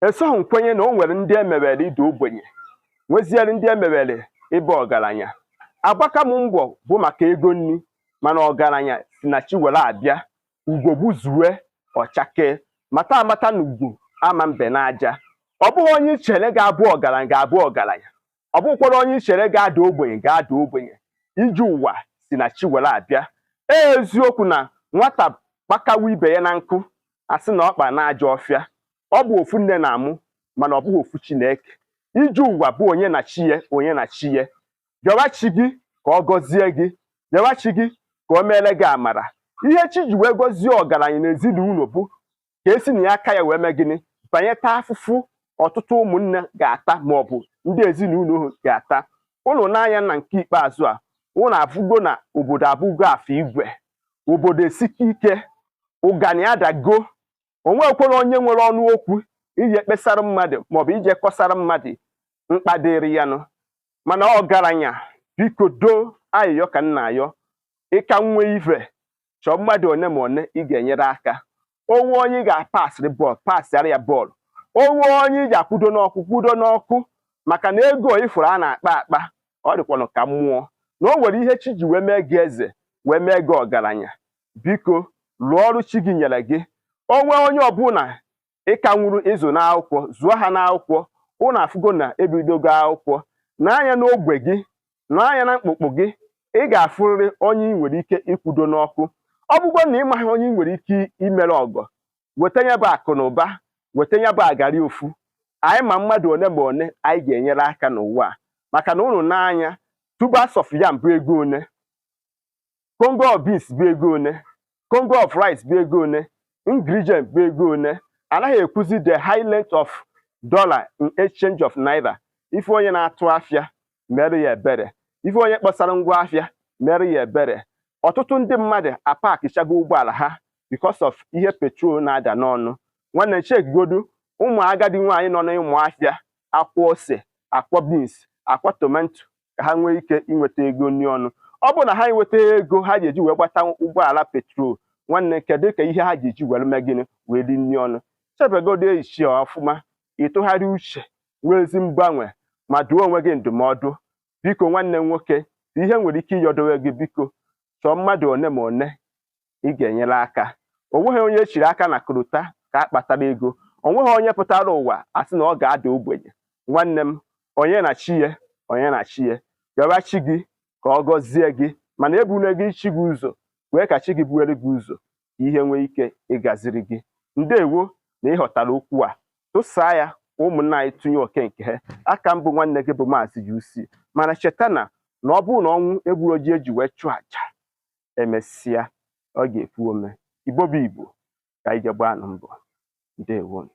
esoghị m kwenye na o nwere ndị emewere ịda ogbenye nweziere ndị emewere ịba ọgaranya agbaka m mbọ bụ maka ego nri mana ọgaranya si na chi were abịa ugo gbuzue ọ chakee mata amata na ugo ama mbe n'aja ọ bụghị onye ichere ga-abụ ọgaranya ga-abụ ọgaranya ọ bụkwọrọ onye ichere ga-ada ogbenye ga-ada ogbenye ije ụwa si na chi were abịa ee eziokwu na nwata kpakawa ibe ya na nkụ asị na ọ kpa n'ajọ ọfịa ọ bụ ofu nne na-amụ mana ọ bụghị ofu chi na-eke ije ụwa bụ onye na chi ya onye na chi ya jawa chi gị ka ọ gọzie gị jawa chi gị ka o meere gị amara ihe chi ji wee gọzie ọgaranya n'ezinụlọ bụ ka esi na ya aka ya wee mee gịnị banye taa afụfụ ọtụtụ ụmụnne ga-ata ma ọ bụ ndị ezinụlọ ga-ata ụnụ nee anya na nke ikpeazụ a ụnụ afụgo na obodo abụgo afọ igwe obodo esigo ike ụgani adago o nwekwọrọ onye nwere ọnụ okwu ije kpesara mmadụ maọbụ ije kọsara mmadụ mkpa dịrị ya nụ mana ọgaranya biko doo ayịyọ ka m na-ayọ ị ka nwee ive chọọ mmadụ one ma one ị ga-enyere aka o nwee onye ị ga-apasịrị bọọlụ pasịara ya bọọlụ o nwee onye ị ga-akwudo n'ọkụ kwudo n'ọkụ maka na ego ị fụrụ a na-akpa akpa ọ dịkwanụ ka mmụọ na o nwere ihe chi ji wee mee gị eze wee mee gị ọgaranya biko lụọ ọrụ chi gị nyere gị o nwee onye ọbụla ịka nwuru ịzụ n'akwụkwọ zụọ ha n'akwụkwọ ụnụ afụgo na ebidogo akwụkwọ nee anya n'ogbe gị nee anya na mkpụkpụ gị ị ga-afụrịrị onye ị nwere ike ịkwudo n'ọkụ ọ bụgo na ị maghị onye ị nwere ike imere ọgọ weta ya bụ akụ na ụba weta ya bụ agari ofu anyị ma mmadụ one ma one anyị ga-enyere aka n'ụwa a maka na ụnụ nee anya tubers of yam bụ ego one congo of beans bụ ego one congo of rice bụ ego one ingredient bụ ego one anaghị ekwuzi the high length of dollar in exchange of naira ị fụ onye na-atụ afịa meere ya ebere ị fụ onye kpọsara ngwa afịa meere ya ebere ọtụtụ ndị mmadụ apakichago ụgbọala ha because of ihe petrol na-ada n'ọnụ nwanne chekigodu ụmụ agadi nwaanyị nọ n'ime afịa akwọ ose akwọ beans akwọ tomato ka ha nwee ike inweta ego nri ọnụ ọ bụrụ na ha enweta ego ha ga-eji wee gbata ụgbọala petrol nwanne kedukwa ihe ha ga-eji were mee gịnị wee ri nri ọnụ chebegodu echi ọfụma ị tụgharịa uche nwee ezi mgbanwe ma duo onwe gị ndụmọdụ biko nwanne m nwoke ihe m nwere ike ịyọdowe gị biko chọọ mmadụ one ma one ị ga-enyere aka o nweghị onye echiri aka na kụrụta ka a kpatara ego o nweghị onye pụtara ụwa asị na ọ ga-ada ogbenye nwanne m onye na chi ya onye na chi ya rịọba chi gị ka ọ gọzie gị mana ebule gị chi gị ụzọ kwee ka chi gị buere gị ụzọ ka ihe nwee ike ịgaziri gị ndewo na ị ghọtara okwu a tụsaa ya ka ụmụnna anyị tụnye oke nke ha aka m bụ nwanne gị bụ maazị UC mana cheta na ọ bụrụ na ọnwụ egburo ji e ji wee chụọ aja emesịa ọ ga-epu ome igbo bụ igbo ka anyị je gbaanụ mbọ ndewonu